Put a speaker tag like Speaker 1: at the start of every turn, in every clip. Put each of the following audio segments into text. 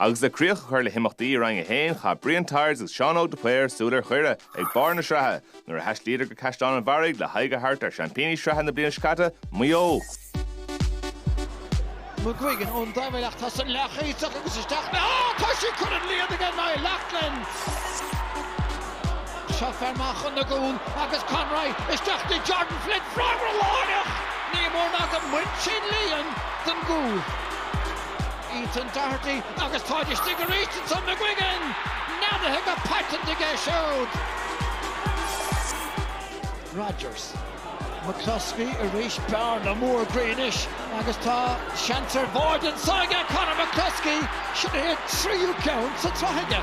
Speaker 1: Agus le críoch a chur le himeachtaí i Roinn 1, chaith Brian Tyers agus Seán Óg de Paor súil ar Dhoire ag barr na sraithe nuair a thaistlíodar go Caisleán an Bharraigh le haghaidh a thabhairt ar sheaimpíní sraithe na bliana seo caite, Maigh Eo.
Speaker 2: McGuigan ón dtaobhlíne ach tá sin leathchaíteach agus isteach léi! Ó, tá sí curtha don líon ag Niall Loughlin! Seo fear maith chun na gcúl agus Conroy isteach do Jordan Flynn. Freagra láithreach! Ní mór ná gur bhain sé an líon den gcúl. Ethan Doherty agus táid istigh arís ansan McGuigan! Neadaithe go paiteanta aige siúd! Rodgers. McCluskey arís, bearna mór groí anois agus tá seans ar bháide anseo aige, Conor McCluskey, sin é a thríú ceann sa tsraith aige.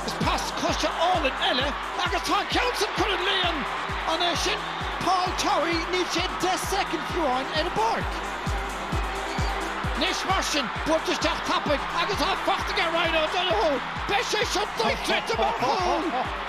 Speaker 2: Agus pas coise álainn eile agus tá an ceann sin curtha don líon! An é sin Paul Towey? Níl sé deich soicind fiú amháin ar an bpáirc. Anois mar sin, buailte isteach tapaidh agus tá fachta aige Ryan O'Donoghue! Beidh sé seo dochreidte mar chúl!